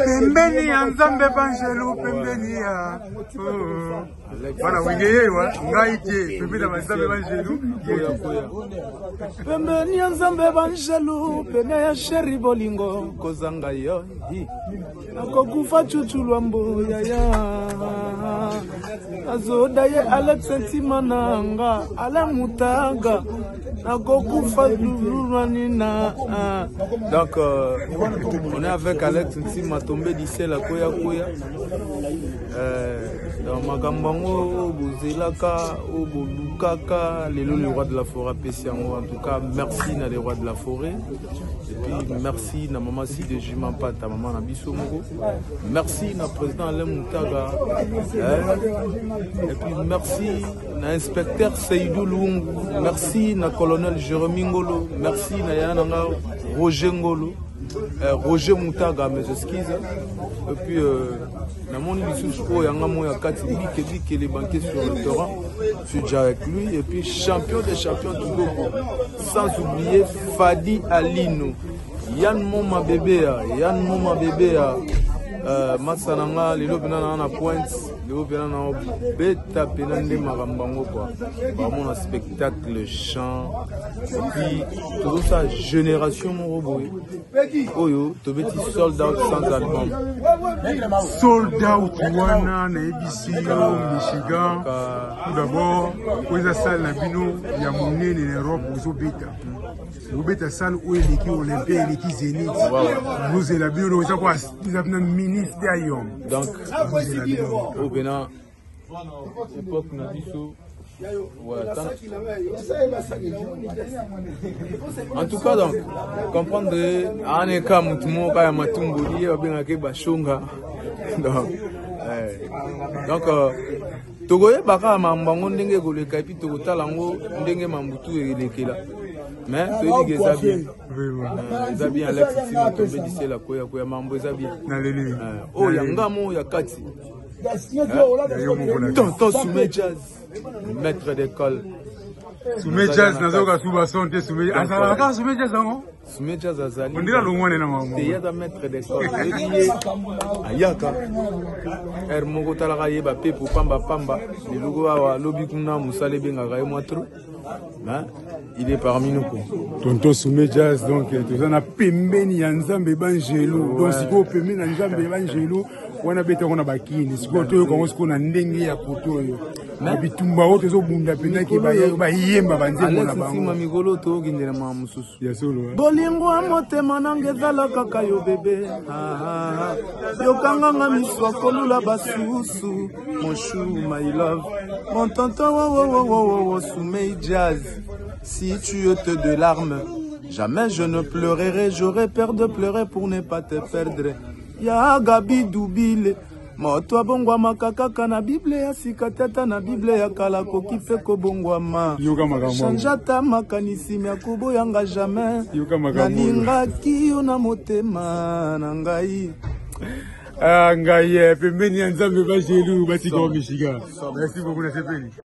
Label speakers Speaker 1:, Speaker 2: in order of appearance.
Speaker 1: pembeni ya nzambe banjelu pembeni ya bana oh. wenge yewa ngai te pembeni ya banzambe banjelu
Speaker 2: pembeni ya nzambe banjelu pene ya sheri bolingo kozanga yo nakokufa cucu lwa mboyaya azoda ye alex ntima na nga ala mutaga nakokufa toujours na nina ah. donc euh, on est avec alex nsima tombe disel akoya koya euh, donc makambo yango oyo bozelaka oyo bolukaka lelo le roi de la forêt apesi yango en tout cas merci na le roi de la forêt et puis merci na mama side juma mpata mama na biso moko merci na président alain mutaga eh, et puis merci na inspecteur Seydou Lungu, merci na colonel Jeremy Ngolo, merci na yana na nga Roger Ngolo, euh, Roger Mutaga, mes excuses. Et puis euh, na moni lisusu oyo yanga moya kati bike bike les banquets sur le terrain, je suis déjà avec lui et puis champion des champions du Gogo, sans oublier Fadi Alino, Yann Moma Bébéa, Yann Moma Bébéa, euh, Matsananga, Lelo Benana na pointe. lelo mpena na beta mpena nde makambo yango kua bamona spectacle chant epuis tozosala génération moko boye oyo tobeti sold out sans album
Speaker 1: sold out wana nayebisi yo michigan tout d'abord oyo eza sale na bino ya monene na europe ozobeta kobeta sale oyo eleki olympe eleki zenit bozela bino eza kwa eza na ministre ya yom donc bozela
Speaker 2: bino oyo mpena epoke na biso en tout cas donc comprendre aana eka motu moko ya matumboli ye babengaka ye bashonga donc, eh, donc euh, tokoyeba kaka mambo yango ndenge ekoleka epuis tokotala yango ndenge mambo tu elekela mais toyebi ke eza bien eza bien alex nsima tombe lisela koya koya mambo eza bien oyo ya ngamo ya kati tonton sume jazz maître d'école sume
Speaker 1: jazz nazoyoka suba son te sume azalaka kaka sume jazz yango Smejaz azali
Speaker 2: ondira longwane na
Speaker 1: mama te yada maître de
Speaker 2: corps yebi ye ayaka heure moko talaka ye bapepo pamba pamba leloko awa lobi kuna mosala ebengaka ye mwa trop mais il est parmi nous quoi tonton soume
Speaker 1: jazz donc eh, toza na pembeni ya nzambe bangelu donc sikoyo pembeni na nzambe bangelu wana betako na bakini sikoyo toyoka yango sikoyo na ndenge ya poto oyo na bitumba oyo tozobunda mpenza ke bayemba banzembo na bango mikolo tokendela
Speaker 2: ma mosusu bolingo
Speaker 1: ya motema
Speaker 2: nanga ezala kaka yo bebe ah, yokanganga miso akolula basusu moshu my love mon tonton wowowowowo sumei jazz si tu ete de larme jamais je ne pleurerai j'aurai peur de pleurer pour ne pas te perdre ya gabi dubile Moto abongwamaka kaka na Bible ya sika te, ata na Bible ya kala akoki mpe kobongwama. Change ata makanisi mya koboyanga jamais. Nalingaki yo na motema na ngai.
Speaker 1: Ah, ngai eh, pembeni ya Nzambe ba jelu batika misika. Merci beaucoup na sepeli.